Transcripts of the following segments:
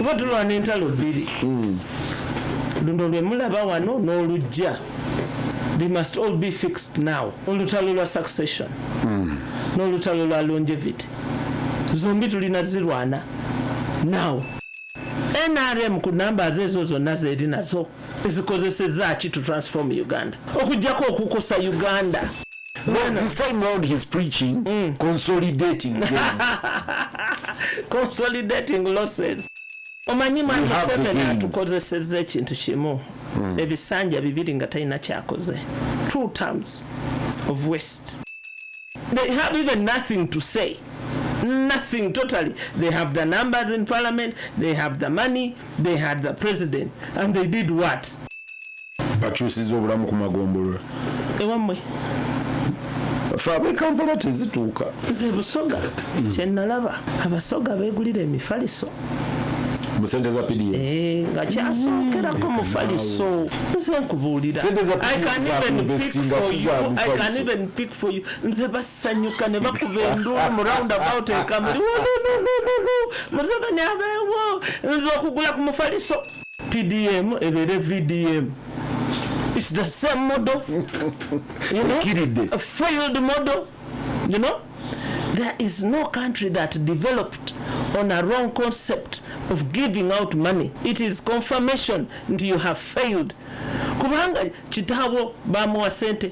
kuba tulwana entalo bbiri hmm. luno lwe mulaba wano n'olujja they must all be fixed now olutalo lwa succession hmm. n'olutalo lwa longevity zombi tulina zirwana now nrm ku nambazi ezo zonna zeeri nazo zikozeseza ki to transform uganda okujjako okukosa uganda Well, this time round he's preaching mm. consolidating consolidating losses omanyi mwami museveni atukozeseza ekintu kimu mm. ebisanja bibiri nga talina kyakoze two terms of west they have even nothing to say nothing totally they have the numbers in parliament they have the money they had the president and they did what bakyusiza obulamu ku magombolola ewamwe fe abekampala tezituuka nze busoga mm. kyenalaba abasoga begulira emifaliso musente za pdf eh, nga kyasokerako mm. mufaliso nze nkubuulira i can even pick for you i can even pick for you nze bas sanyuka ne bakuba enduulu mu round about ekamuli museveni abeewo nza okugula ku mufaliso pdm ebeere vdm its the same model you know? a failed model you know there is no country that developed on a wrong concept of giving out money it is confirmation nti you have failed kubanga kitaabo bamuwa sente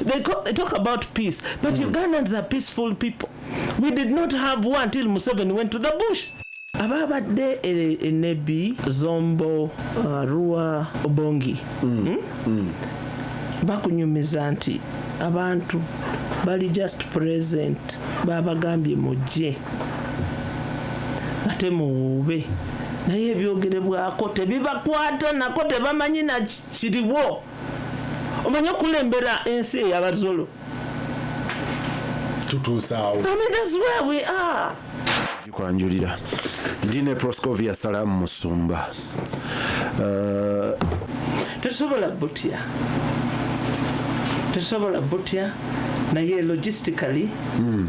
They, call, they talk about peace, but mm. Ugandans are peaceful people. We did not have war until Museveni went to the bush. ababadde enebi e zombo uh, rua obongi mm. Hmm? Mm. bakunyumiza nti abantu bali just present babagambye mujje ate muwuube naye ebyogerebwako tebibakwata nako tebamanyi nakiriwo omanyi okulembera ensi eyabazolo tutuusaawo kwanjulira ndine proscovia salamu musumba uh, tetusobola butya tetusobola butya naye logistically mm.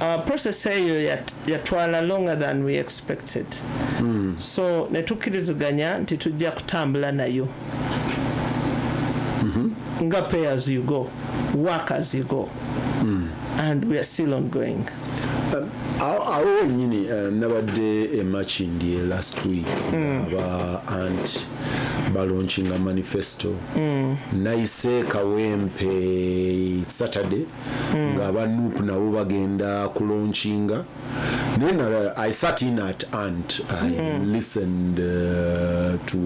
our process eyo yatwala longer than we expected mm. so netukkiriziganya nti tujja kutambula nayo mm -hmm. nga pay as you go work as you go mm. and we are still ongoing um, awo wenyini uh, nabadde emakindi last week mm. aba anti balonkinga manifesto mm. nayise kawempe saturday mm. nga aba nup nabo bagenda kulonkinga naye nala i sat in at ant i mm. listened uh, to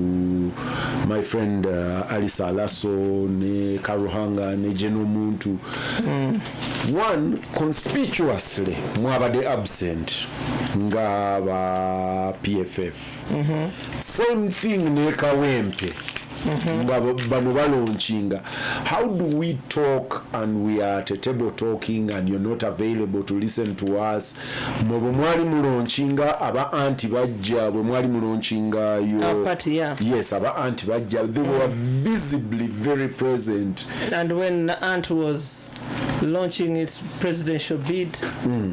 my friend uh, alice alaso ne karuhanga ne jeno muntu mm. one conspicuously mwabade absent nga ba pff mm -hmm. same thing ne kawempe mhm. nga bano balonkinga how do we talk and we are at a table talking and you're not available to listen to us mwe bwe mwali mulonkinga aba anti bajja bwe mwali mulonkinga yo yes aba anti bajja they were mm. visibly very present and when aunt was launching its presidential bid mm.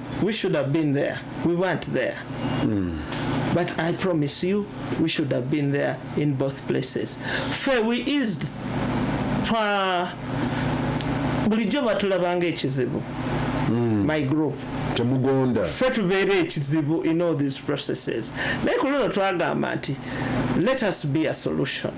we should have been there we weren't there mm. but i promise you we should have been there in both places fe we eased twa bulijjo batulabanga ekizibu mm. my group temugonda fe tubeera ekizibu in all these processes naye ku luno twagamba nti let us be a solution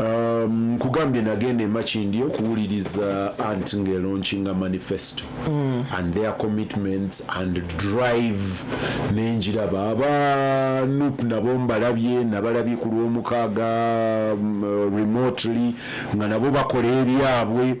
Um, nkugambye um, nagenda emakindi okuwuliriza ant ngelaunchinga manifesto mm. and their commitments and drive nenjiraba aba nup nabo mbalabye nabalabye ku lwomukaaga um, remotely nga nabo bakola ebyabwe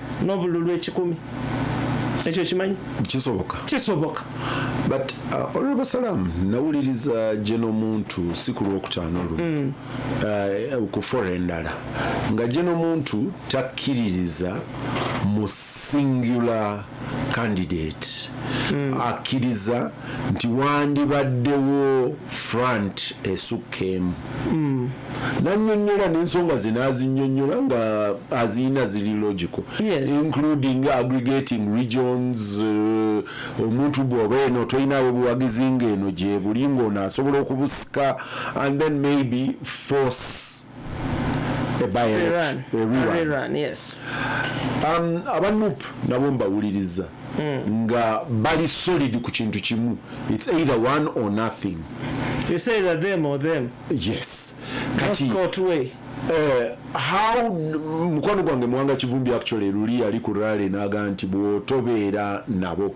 n'obululu ekikumi ekyo kimanyi kisoboka kisoboka but uh, honorable salam nawuliriza gye n'omuntu si ku lwokutaano luno mm. uh, ku fora endala nga gye n'omuntu takkiririza mu singular candidate mm. akkiriza nti wandibaddewo front esukka emu mm. nanyonyola nensonga ze nazinyonyola nga azirina ziri logical yes. including aggregating regions uh, omuntu bwoba eno tolinawo buwagizi nga eno gyebuli ngaono asobola okubusika and then maybe force um, aba nup nabo mbawuliriza hmm. nga bali solid ku kintu kimu its either one or nothing You say that them or them. Yes. Kati, Not court way. Eh, how mukwano gwange mwanga kivumbi actually luli yali ku rally naga nti bwotobeera nabo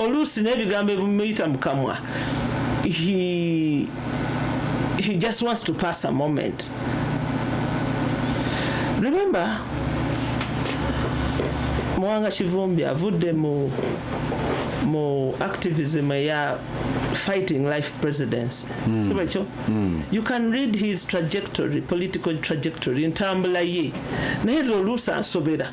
oluusi n'ebigambo ebimuyita mu kamwa he, he just wants to pass a moment remember muwanga kivumbi avudde mu mu activism eya fighting life presidency mm. siba ekyo mm. you can read his trajectory political trajectory ntambula ye naye oluusi ansobera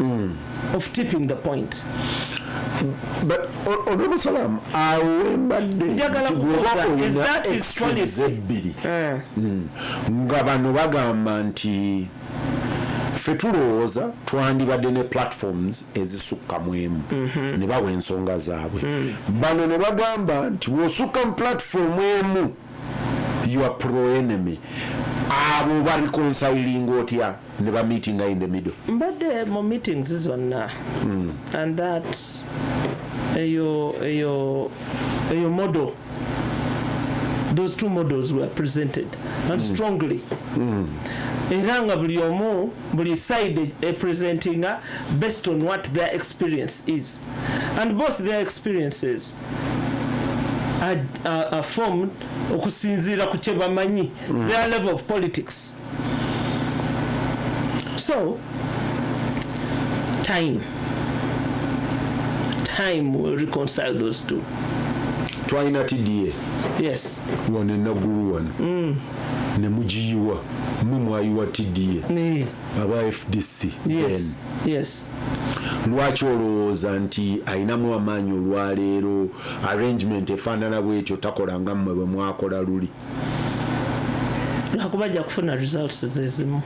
mm. of tipping the point olwomusalamu awo wembadde ebbiri eh. hmm. nga bano bagamba nti ffe tulowooza twandibadde ne platforms ezisukka mu emu mhm. ne bawa ensonga zaabwe hmm. bano ne bagamba nti bwosukka mu platform emu your pro enemy abo babikonsawilinga otya ne ba meetinga in the middle mbadde mu meetings zonna mm. and that eyo eyo eyo model those two models were presented and mm. strongly mm. era nga buli omu buli side e presentinga based on what their experience is and both their experiences are, are, are formed okusinziira ku kyebamanyi mm. their level of politics so time time will reconcile those two twalina tda yes wano enagulu wano mm. ne mugiyiwa mwe mwayiwa tda aba fdc yes. yes lwaki olowooza nti alinamu amaanyi olwaleero arrangement efaanana bwekyo takola nga mmwe bwe mwakola luli lwakuba ajja kufuna results zezimu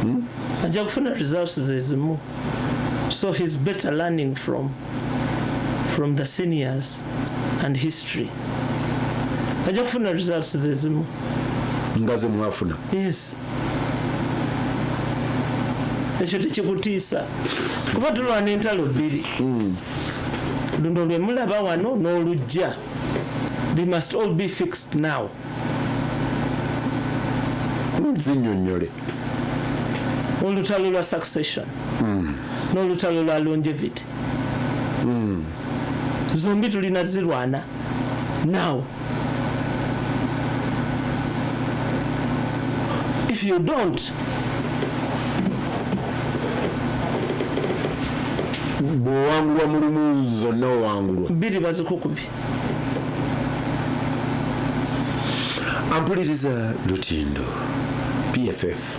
hmm? ajja kufuna results zezimu so he's better learning from from the seniors and history ajja kufuna results zezimu nga zemwafuna yes ekyo tekikutiisa kuba tulwana entalo bbiri hmm. luno lwemulaba wano n'olujja they must all be fixed now zinyonyole olutalo lwa succession mm. n'olutalo lwa longevity mm. zombi tulina zirwana now if you don't bwowangulwa mulumu zonna owangulwa bbiri bazikukubi ampuliriza lutindo pff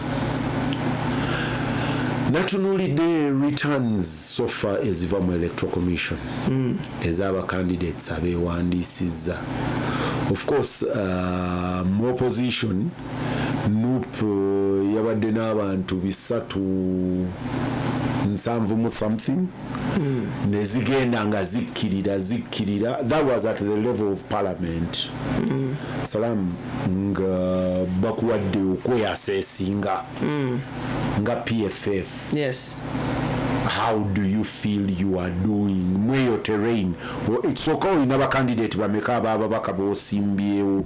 natunuulidde returns sofa eziva mu electoral commission mm. ez'abacandidates abeewandiisizza of course uh, mu opposition Nup yabadde n'abantu bisatu nsanvu mu something mm. nezigenda nga zikkirira zikkirira that was at the level of parliament mm. salamu nga bakuwadde okweyasa esinga mm. nga pff yes how do you feel you are doing mweyo terrain ekisooka olina bakandidate bameka abababaka bosimbyewo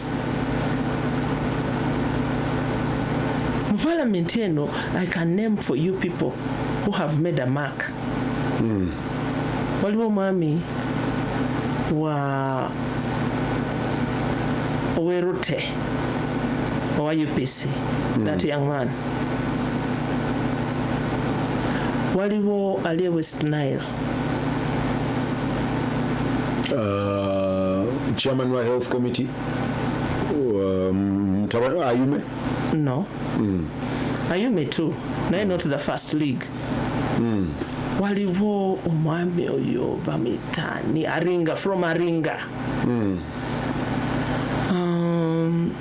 mu parliament eno i can name for you people who have made a mark mm. waliwo omwami wa owerute owa upc mm. that young man waliwo ali e west nile uh, chairman wa health committee um, ayume no mm. ayume too naye not the first league mm. waliwo omwami oyo bamitani aringa from aringa mm. um,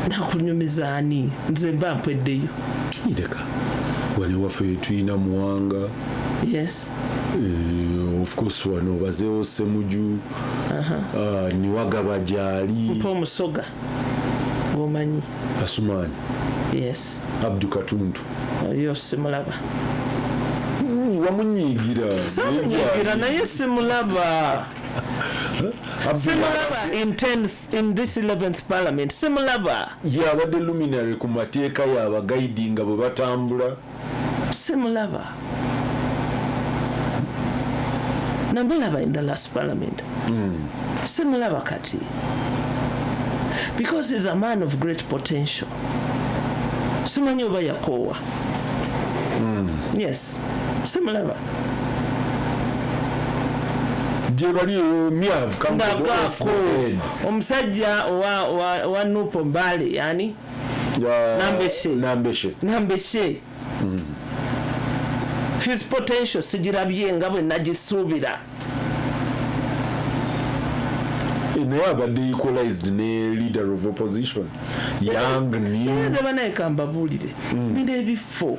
nakunyumiza ani nze mba mpweddeyo ireka wano waffe tulina muwanga yes uh, of course wano bazeewo semuju uh -huh. uh, niwagaba gyali mpa omusoga gwomanyi asumaani yes abdu katuntu oyo simulaba wamunyiigira samunyiigira naye simulaba simulaba in ten in this 11th parliament simulaba yabadde luminary ku mateeka yabagaidi nga bwe batambula simulaba namulaba in the last parliament mm. simulaba kati because is a man of great potential simanyi oba yakoowa mm. yes simulaba gyebali eyo myavu kangako omusajja owa nupo mbale yani nambeshe nambeshe nambeshe mm. his potential sigirabye nga bwe nagisuubira eh, naye abadde equalized ne leader of opposition young newzebanaye kambabuulire mm. bino ebifo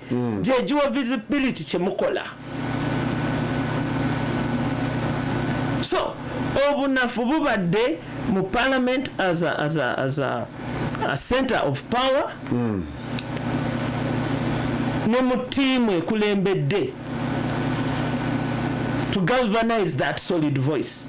mm. gyegiwa visibility kyemukola so obunafu bubadde mu parliament as a, as a, as a, a center of power mm. ne mu tiimu ekulembedde to galvanize that solid voice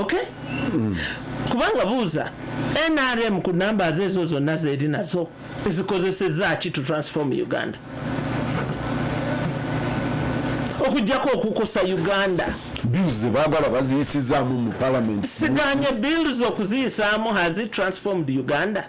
okay mm. kubanga buuza nrm ku namba ze ezo zonna zeri nazo ezikozeseza ki to transform uganda okujjako okukosa uganda bills zebagala baziyisizaamu mu palamenti siganye bills okuziyisaamu has it transformed uganda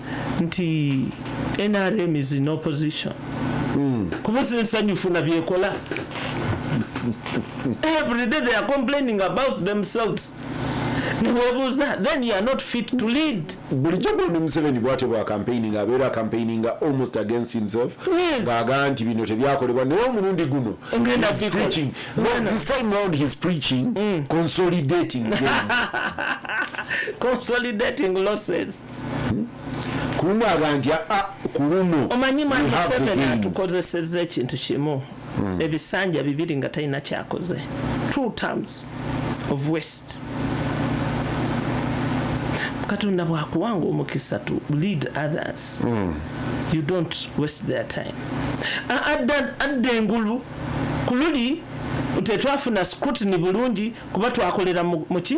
nti nrm is in opposition hmm. kuba sinsanyufu na byekola every day they are complaining about themselves newebuuza then you are not fit to lead bulijjo bwona museveni bwatyo bwa campaigning abeera campaigning almost against himself ngaaga nti bino tebyakolebwa naye omulundi guno this time round his preaching mm. consolidating consolidating losses kuluno abantu ah, kuluno omanyi mwami museveni atukozeseza ekintu kimu hmm. ebisanja bibiri nga talina kyakoze two terms of west katonda bwakuwanga omukisa to lead others mm. you don't waste their time adda engulu kululi tetwafuna scrutiny bulungi kuba twakolera muki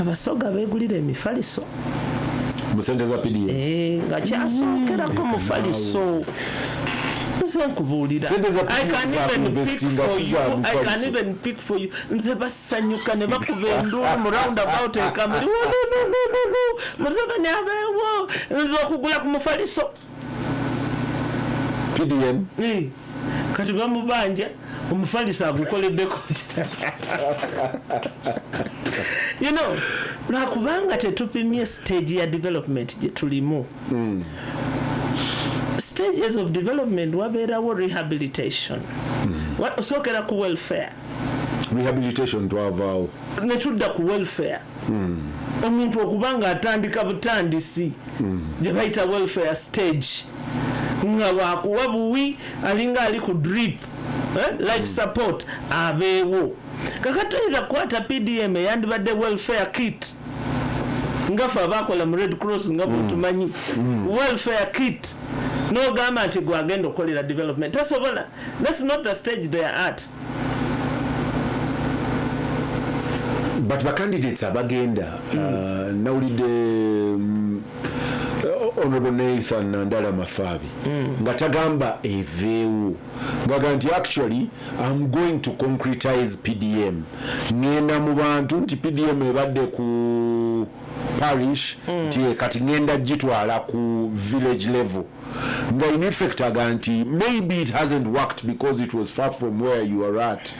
abasoga begulira emifaliso musente za pdf eh, nga kyasookerako hmm. mufaliso nze nkubuulira nze basanyuka ne bakuba enduulu mu round about ekamuli muze bani abeewo nze okugula ku mufaliso pdm Eh, kati bamubanja omufalisa agukoleddeko you know lwakubanga tetupimye stage ya development gye tulimu stages of development wabeerawo rehabilitation Wa- osookera ku welfare rehabilitation twavaawo netudda ku welfare mm. omuntu okuba nga atandika butandisi mm. gye bayita welfare stage nga wakuwa buwi alinga ali ku drip eh? life mm. support abeewo kaka tuyinza kukwata pdm eyandibadde welfare kit nga fe abakola mu red cross nga bwetumanyi mm. mm. welfare kit nogamba nti gwagenda okukolera development tasobola thats not the stage they are at but ba candidates abagenda mm. uh, nawulidde um, honorable nathan nandala mafaabi mm. nga tagamba eveewo ngaga nti actually am going to concretize pdm ngenda mu bantu nti pdm ebadde ku parish mm. nti kati ngenda gitwala ku village level nga in effect aga nti maybe it hasn't worked because it was far from where you are at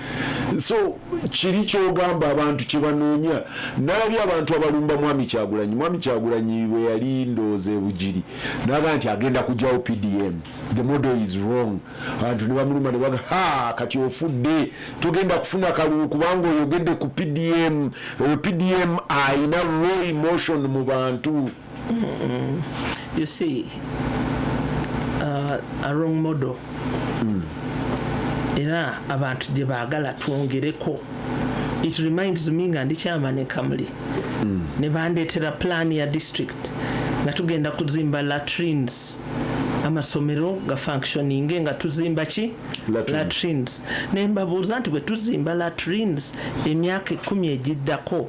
so kiri kyogamba abantu kyebanoonya nalabye abantu abalumba mwami kyagulanyi mwami kyagulanyi bwe yali ndooza ebugiri naga nti agenda kujawo pdm the model is wrong abantu nebamuluma nebaga ha kati ofudde togenda kufuna kalulu kubanga oyogedde ku pdm oyo pdm ayina raw emotion mu bantu you see uh, a wrong model mm. era abantu gye baagala twongereko it reminds me nga ndi chairman e kamuli mm. ne bandeetera plan ya district nga tugenda kuzimba latrines amasomero ga functioninge nga tuzimba ki latrines naye mbabuuza nti bwe tuzimba latrines emyaka ekumi egiddako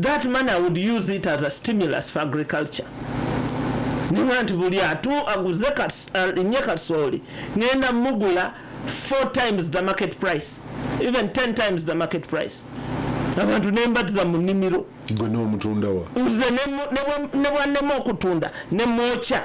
that money I would use it as a stimulus for agriculture ninga nti buli atu aguze nye kasooli ngenda mugula four times the market price even ten times the market price abantu nembatiza mu nimiro gwe nomutundawa nze nebwanema okutunda nemwokya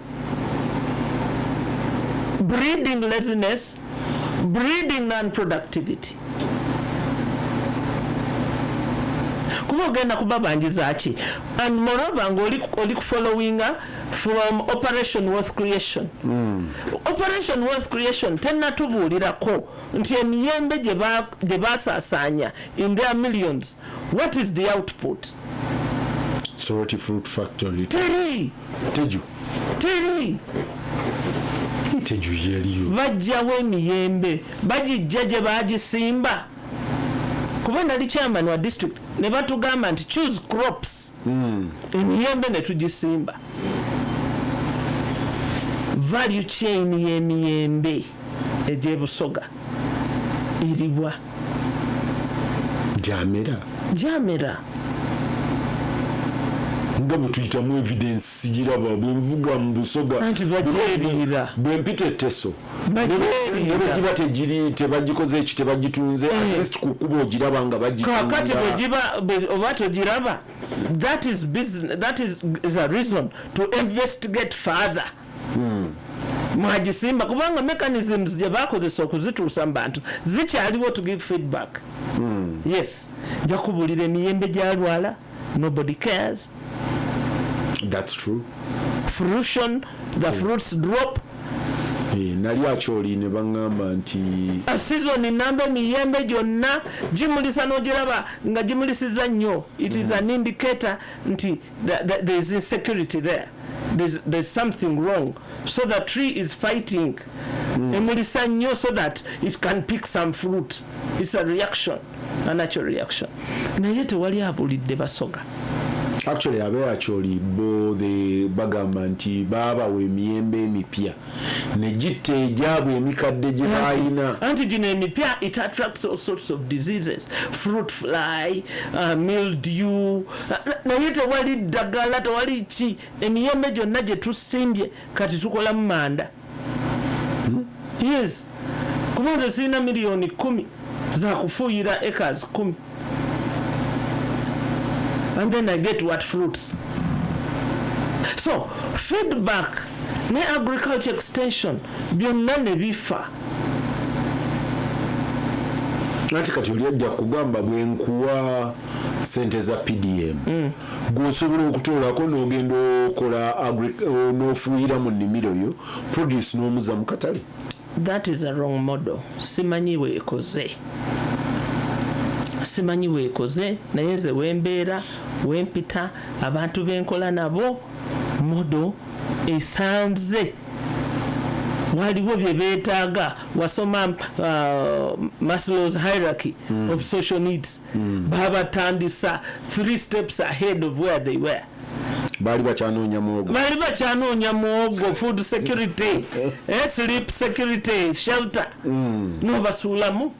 breeding laziness, breeding non-productivity. kuba ogenda kubabanjiza ki and moreover ngaoli kufollowinga from operation wealth creation mm. operation wealth creation tenatubuulirako nti emiyembe gye basaasaanya in their millions what is the output soroti fruit factory teri teju teri teju yeliyo bajjawo emiyembe bagijja gye bagisimba kuba nali chairman wa district ne batugamba nti choose crops mm. emiyembe ne tugisimba value chain y'emiyembe egy'ebusoga eriwa gyamera gyamera nga bwetuyitamu evidence sigiraba bwenvuga mu busoga anti bagyeriira bwempita etteso nebegiba tegiri tebagikoze eki tebagitunze eh. atleast ku kuba ogiraba nga bagikakati bwegiba oba togiraba that is, that is, is a reason to investigate further hmm. mwagisimba kubanga mechanisms gye bakozesa okuzituusa mu bantu zikyaliwo to give feedback hmm. yes nja kubulira emiyembe gyalwala nobody cares that's true fruition the hmm. fruits drop eh, nali akyoli ne baŋŋamba nti ah, sizoni namba emiyembe gyonna gimulisa n'ogiraba nga gimulisiza nnyo it is hmm. an indicator nti there is insecurity there there's, there's something wrong so the tree is fighting mm. emulisa nnyo so that it can pick some fruit it's a reaction a natural reaction naye tewali abulidde basoga actually abeera kyoli bo the bagamba nti baabawa emiyembe emipya ne gitta egyabwe emikadde gye baalina anti gino emipya it attracts all sorts of diseases fruit fly uh, mildew uh, naye tewali ddagala tewali ki emiyembe gyonna gye tusimbye kati tukolamu manda hmm? yes kuba nze sirina miliyoni kumi zakufuuyira acres kumi and then I get what fruits so feedback ne agriculture extension byonna ne bifa anti kati oli ajja kugamba bwenkuwa sente za pdm mm. gweosobola okutoolako nogenda okola nofuuyira mu nimiro yo produce nomuza mukatale That is a wrong model. Simanyi weekoze. Simanyi weekoze naye nze wembeera wempita abantu benkola nabo modo esanze waliwo bye beetaaga wasoma uh, maslows hierarchy mm. of social needs mm. babatandisa three steps ahead of where they were baali bakyanoonya muwogo baali bakyanoonya muwogo food security eh, sleep security shelter mm. nobasuulamu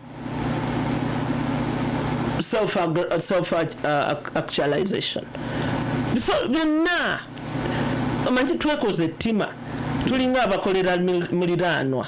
self, uh, self uh, actualization so byonna omanyi twekoze ettima tulinga abakolera muliraanwa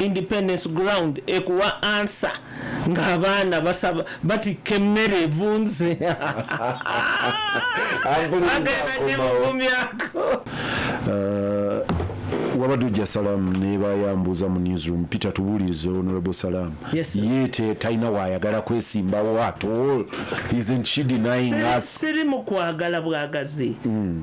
Independence ground ekuwa answer nga abaana basaba batikka emmere evunze agenanyemugumyako uh, wabadde ojja salaamu naye bayambuuza mu newsroom peter tubuulirize honorable salaamu yes, ye talina waayagala kwesimbawo at all isn't she denying us siri mu kwagala bwagazi mm.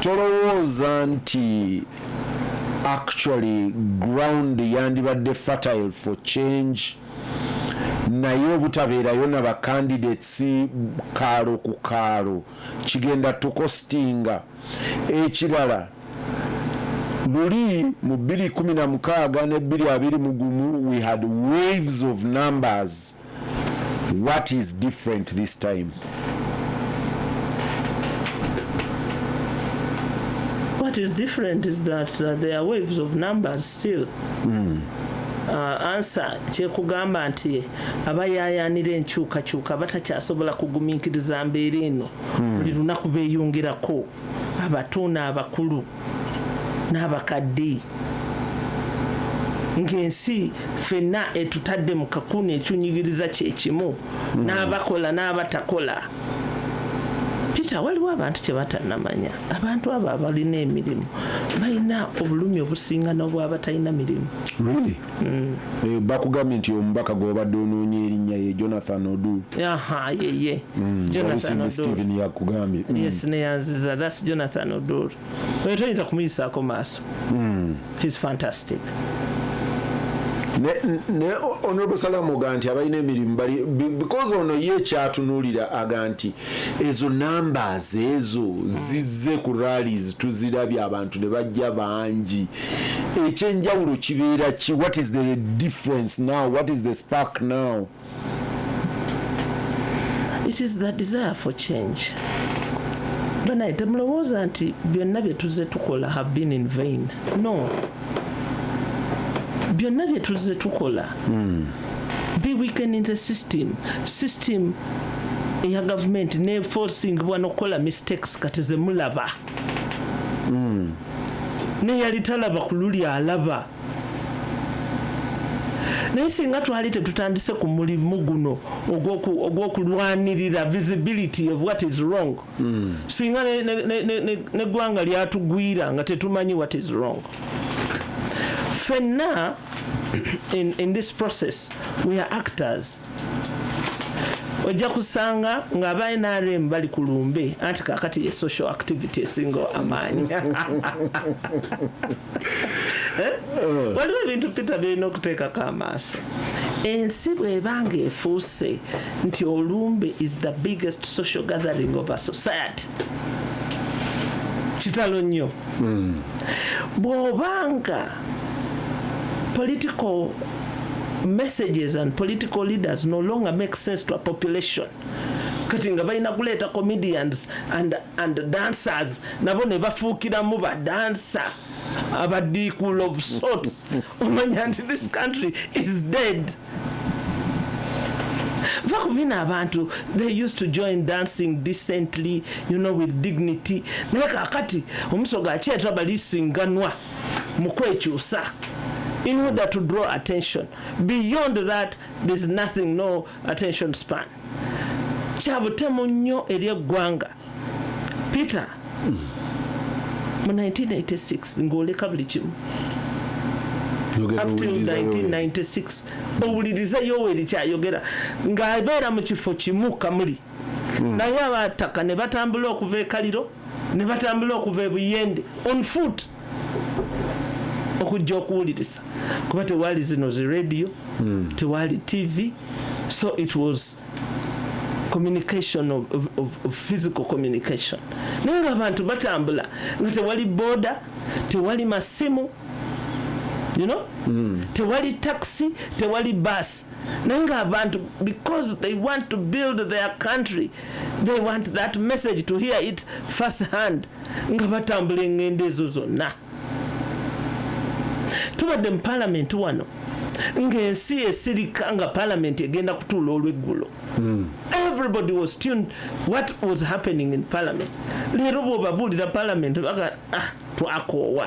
tolowooza nti actually ground yandibadde fertile for change naye obutabeerayo na ba candidates kaalo ku kaalo kigenda tukostinga ekirala luli mu 216 ne 221 we had waves of numbers What is different this time? What is different is that, that there are waves of numbers still. Mm. Uh, ansa kyekugamba nti abayayanira enkyukakyuka batakyasobola kugumiikiriza mbeera eno hmm. buli lunaku beyongerako abato n'abakulu n'abakadde ng'ensi fenna etutadde mu kakuuni ekyunyigiriza kye kimu hmm. n'abakola n'abatakola peter waliwo abantu kye batanamanya abantu abo abalina emirimu balina obulumi obusinga n'obwabatalina mirimu Mm. Eh, bakugambye nti omubaka gwobadde onoonya erinnya ye jonathan odu yeye mm, jonathansteven yakugambye mm. yes neyanziza thats jonathan odur oyo toyinza kumuyisaako maaso his fantastic ne honorable salamu oga nti abalina emirimu bali because ono ye kyatunulira aga nti ezo numbers ezo zizze ku rallies tuzirabye abantu ne bajja bangi ekyenjawulo kibeera ki what is the difference now what is the spark now it is the desire for change banaye temulowooza nti byonna bye tuzze tukola have been in vain no byonna bye tuzze tukola hmm. be weakening the system system eya gavumenti ne forcing bwana okukola mistakes kati zemulaba hmm. neyali talaba ku luli alaba naye singa twali tetutandise ku mulimu guno ogw'okulwanirira visibility of what is wrong mm. singa neggwanga lyatugwira nga tetumanyi what is wrong fenna in, in this process we are actors ojja kusanga nga aba nrm bali ku lumbe anti kakati ye social activity esinga amaanyi eh? eh. waliwo ebintu peter byolina okuteekako amaaso ensi bwebanga efuuse nti olumbe is the biggest social gathering of a society kitalo nnyo hmm. bwobanga political messages and political leaders no longer make sense to a population kati nga balina kuleeta comedians and, and dancers nabo ne bafuukiramu badansa abadiikul of sorts omanya nti this country is dead va ku bino abantu they used to join dancing decently you know with dignity naye kakati omusoga akyetwa balisinganwa mu kwekyusa in order to draw attention beyond that there's nothing no attention span kya butemu nnyo eri eggwanga peter mu 1986 ng'oleka buli kimu up till 1996 owulirize yoweri kyayogera ng'abeera mu kifo kimu kamuli hmm. naye abataka ne batambula okuva ekaliro ne batambula okuva ebuyende on foot okujja okuwuliriza kuba tewaali zino zi radio mm. tewaali tv so it was communication of, of, of, of physical communication naye nga abantu batambula nga tewali boda tewali masimu you know mm. tewali taxi tewali bus naye nga abantu because they want to build their country they want that message to hear it first hand nga batambula engendo ezo zonna tubadde mu palamenti wano ng'ensi esirika nga palamenti egenda kutuula olweggulo hmm. everybody was tuned what was happening in parliament leero bwobabuulira palamenti baga ah, twakoowa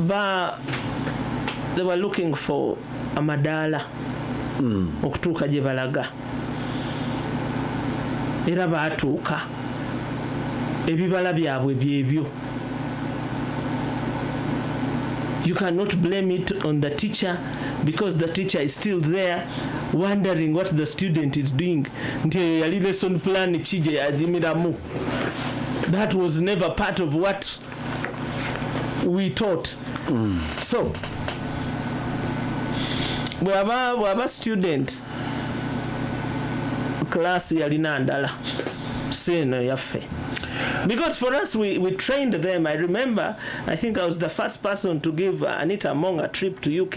ba they were looking for amadaala mm. okutuuka gye balaga era baatuuka ebibala byabwe byebyo you cannot blame it on the teacher because the teacher is still there wondering what the student is doing nti eyo yali lesson plan ki gye yajimiramu that was never part of what we taught mm. so bwaba bwaba student class yalina ndala si eno yaffe because for us we, we trained them i remember i think i was the first person to give uh, anita among a trip to uk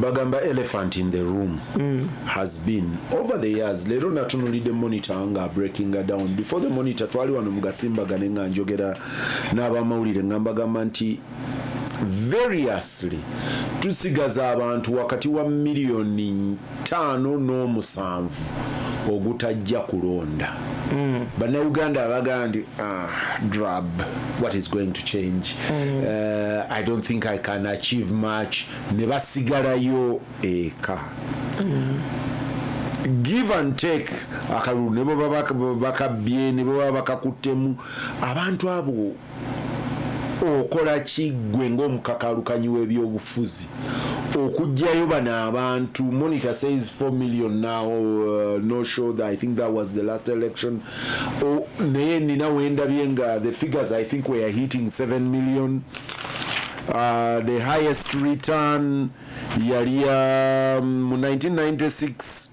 bagamba elephant in the room mm. has been over the years leero natunulidde monitor nga breakinga down before the monitor twali wano mugasimbagane nga njogera n'abamawulire nga mbagamba nti variously tusigaza abantu wakati wa miliyoni ttaano n'omusanvu ogutajja kulonda mm. bannayuganda abagamba nti ah, drab what is going to change mm. uh, i don't think i can achieve much ne basigalayo eka mm. give and take akalulu ne baba bakabbye ne baba bakakuttemu abantu abo okola ki ggwe ng'omukakaalukanyi w'ebyobufuzi okugyayo bano abantu monitor says 4 million now uh, no show that i think that was the last election oh, naye nina wendabye nga the figures i think were hitting 7 million uh, the highest return yali ya um, mu 1996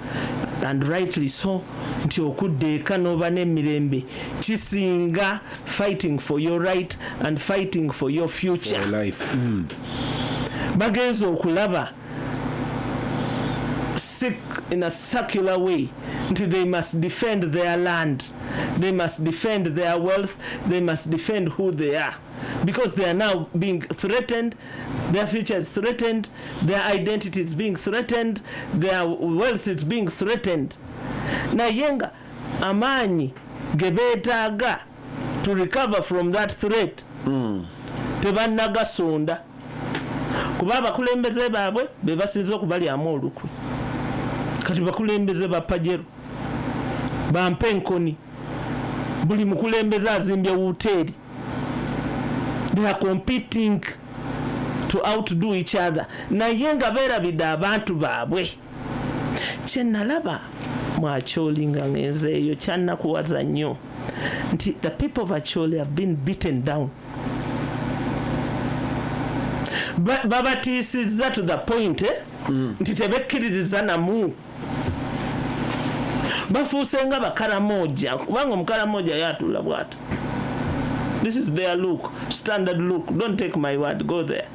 and rightly so nti okudda eka n'oba n'emirembe kisinga fighting for your right and fighting for your future for life mm. bagenza okulaba sick in a circular way nti they must defend their land they must defend their wealth they must defend who they are because they are now being threatened, their future is threatened, their identity is being threatened, their wealth is being threatened. Naye nga amaanyi ge beetaaga to recover from that threat mm. tebannagasonda kuba abakulembeze baabwe be basinze okubalyamu olukwe kati bakulembeze ba pajero bampa enkoni buli mukulembeze azimbye wuteeri they are competing to outdo each other naye nga beerabidde abantu baabwe kyenalaba mwakyolinga ngenzeeyo kyanakuwaza nnyo nti the people of acholi have been beaten down babatiisizza to the point eh? mm. nti tebekkiririza namu bafuuse nga bakaramoja kubanga omukaramoja yatula bwati this is their look standard look don't take my word go there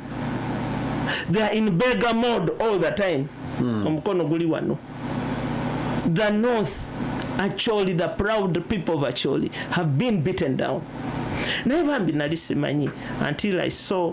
they are in beggar mode all the time mm. omukono guli wano the north acholi the proud people of acholi have been beaten down naye bambi nali simanyi until i saw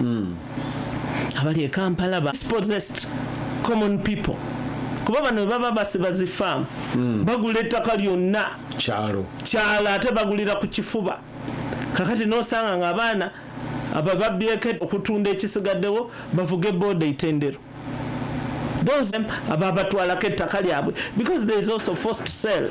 mm. abali e kampala ba dispossessed common people kuba bano baba basiba zifaamu mm. bagula ettaka lyonna kyalo kyalo ate bagulira ku kifuba kakati nosanga nga abaana aba babyeko okutunda ekisigaddewo bavuge booda itendero those ababatwalako ettaka lyabwe because there is also forced sell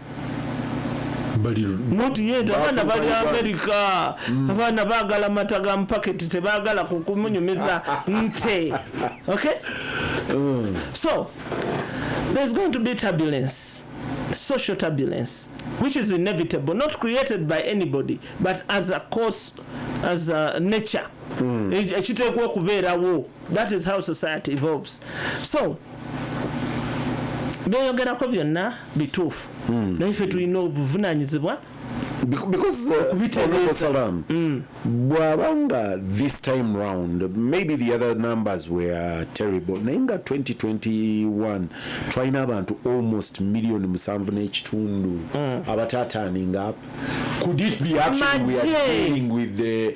noti yeeta abaana bali amerika mm. abaana bagala mata ga mupaketi tebagala kumunyumiza nte okay mm. so there's going to be turbulence social turbulence which is inevitable not created by anybody but as a course as a nature mm. ekiteekwa okubeerawo that is how society evolves so byoyogerako byonna bituufu hmm. naye fe tulina obuvunanyizibwa because uh, mm. bwaba nga this time round maybe the other numbers were terrible naye nga 2021 twalina abantu almost million musanvu n'ekitundu mm. abatataaning up could it be actually we are dealing with the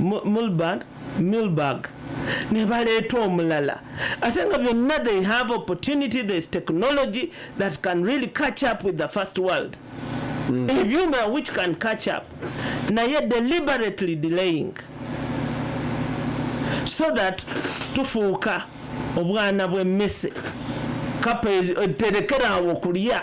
Mulband, Milberg ne baleeta omulala ate nga byonna they have opportunity there's technology that can really catch up with the first world mm. ebyuma which can catch up naye deliberately delaying so that tufuuka obwana bw'emmese kapa eterekera awo kulya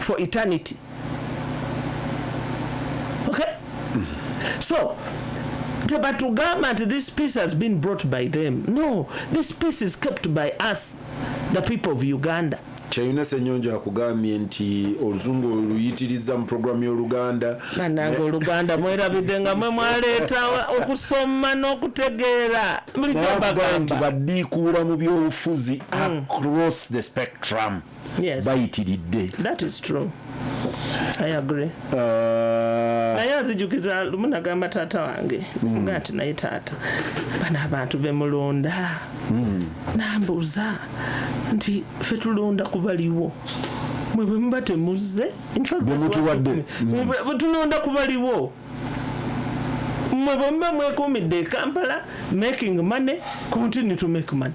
for eternity okay so tebatugamba nti this peace has been brought by them no this peace is kept by us the people of uganda kyeyuna senyonjo akugambye nti oluzungu oluyitiriza mu programu y'oluganda nange oluganda mwerabidde nga mwe mwaleeta okusoma n'okutegeera bulijobagamba badiikuula mu byobufuzi mm. across the spectrum yes. bayitiridde that is true i agree uh, naye azijukiza lumu nagamba taata wange mm. nga nti naye taata bano abantu bemulonda mm. nambuuza nti fe tulonda kubaliwo mwe bwemuba temuzze bemutuwadde bwetulonda mm. kubaliwo mwe bwemuba mwekuumidde e kampala making money continue to make money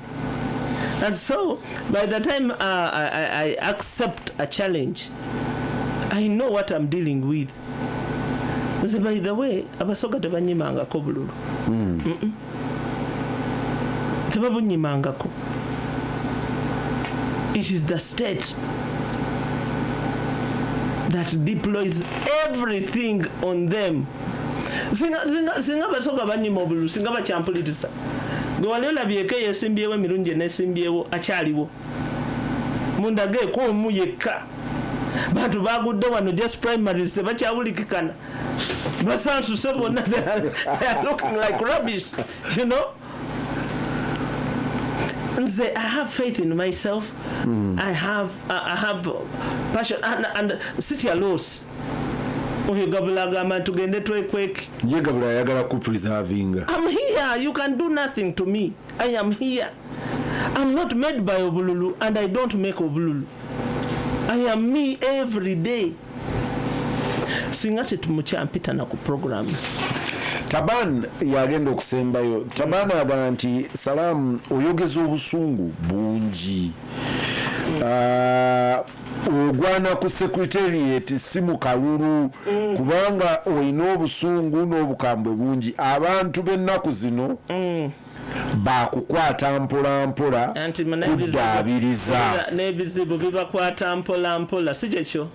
And so, by the time uh, I, I, I accept a challenge, I know what I'm dealing with. Nze by the way, abasoga tebanyimangako bululu. Mm. Mm -mm. Tebabunyimangako. It is the state that deploys everything on them. Singa, singa, singa basoga banyima obululu, singa bachampulitisa. gwe wali olabyeko eyesimbyewo emirundi enesimbyewo akyaliwo mundageeko omu yekka bantu bagudde wano just primaries tebakyawulikikana basansuse bonna looking like rubbish you know nze i have faith in myself mm. i have i have passion and, and sitya loss Oyo gabula agamba tugende twekweke. Ye gabula ayagala ku preservinga. I'm here, you can do nothing to me. I am here. I'm not made by obululu and I don't make obululu. I am me every day. Singa tetumuchampita na ku programs. Taban yagenda okusembayo. Taban agamba nti salamu oyogeza obusungu bungi. Uh, ogwana ku secretariat si mu kalulu mm. kubanga olina obusungu n'obukambwe bungi abantu b'ennaku zino mm. bakukwata mpolampola kuddaabiriza n'ebizibu bibakwata mpolampola si kyekyo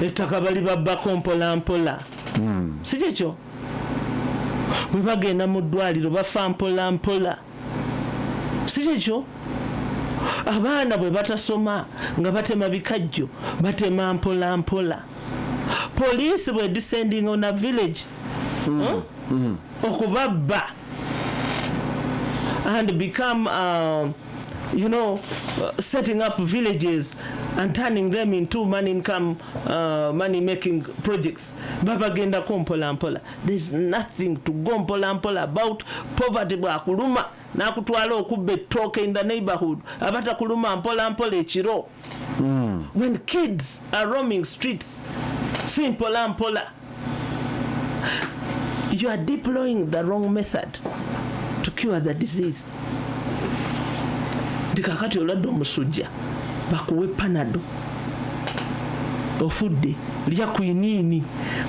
ettaka bali babbako mpolampola mm. si kyekyo bwe bagenda mu ddwaliro bafa mpolampola si kyekyo abaana bwe batasoma nga batema bikajjo batema mpola mpola poliisi bwe descending on a village mm. huh? mm. okubabba and become um, you know setting up villages and turning them into money income uh, money making projects babagendako mpola mpola there's nothing to go mpola mpola about poverty bwakuluma nakutwala okubba ettooke in the neighborhood abatakuluma mpola mpola ekiro mm. when kids are roaming streets si mpola mpola you are deploying the wrong method to cure the disease nti kakati oladde omusujja bakuwe panado ofudde lya kwiniini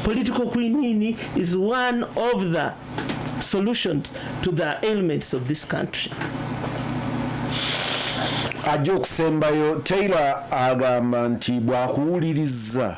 political kwiniini is one of the solutions to the ailments of this country ajja okusembayo taylor agamba nti bwakuwuliriza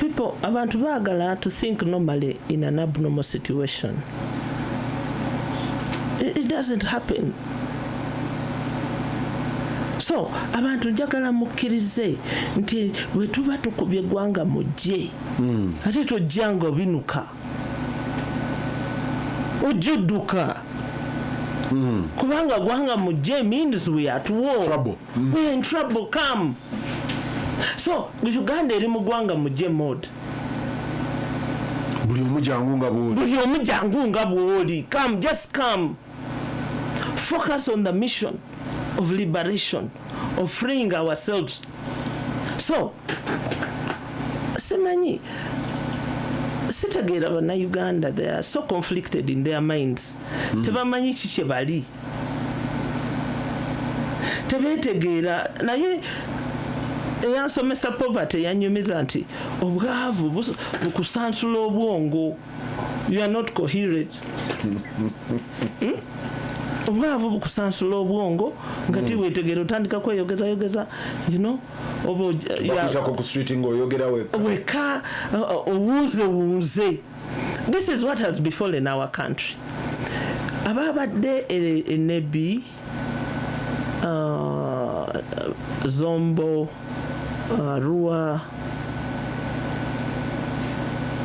people abantu baagala to think normally in an abnormal situation it, it doesn't happen so abantu njagala mukkirize nti bwe tuba tukubye eggwanga mujje mm. ate tojjanga obinuka ojja odduka mm. kubanga gwanga mujje means we at war Trouble. We're in trouble come. So Uganda eri mu gwanga muje mode. Buli omu jangu nga bwoli. Buli omu jangu nga bwoli. Come just come. Focus on the mission of liberation of freeing ourselves. So simanyi sitegeera bannayuganda they are so conflicted in their minds mm. tebamanyi ki kye bali tebetegeera naye eyansomesa poverty yanyumiza nti obwavu bukusansula obwongo you are not coherent hmm? obwavu bukusansula obwongo nga hmm. tiwetegera otandika kweyogeza yogeza you know oba oyogera weka owuuze wuuze this is what has befallen our country ababadde enebi e, uh, zombo uh, rua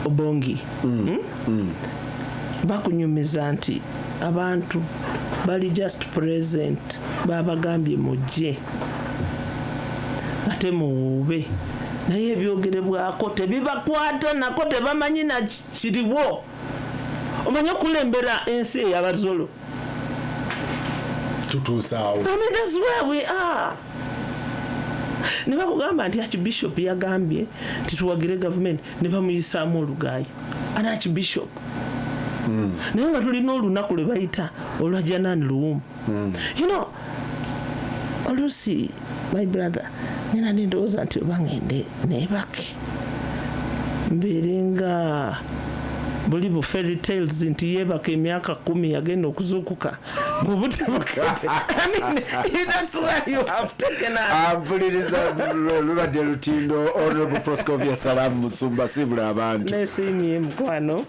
obongi mm. Hmm? Mm. bakunyumiza nti abantu bali just present babagambye mujje ate muwuube naye ebyogerebwako tebibakwata nako tebamanyi nakiriwo omanyi okulembera ensi eyabazolo tutuusaawo ne bakugamba nti archbishop yagambye nti tuwagire gavumenti ne bamuyisaamu olugaayo an archbishop hmm. naye nga tulina olunaku lwe bayita olwa janani luwumba mm. you know oluusi my brother nyina nendowooza nti oba ngende nebake mbeere nga buli bu fairy tales nti yeebaka emyaka kumi yagenda okuzuukuka mpuliriza lubadde lutindo honorable proscovia salamu musumba sibula abantu nesiimye mukwano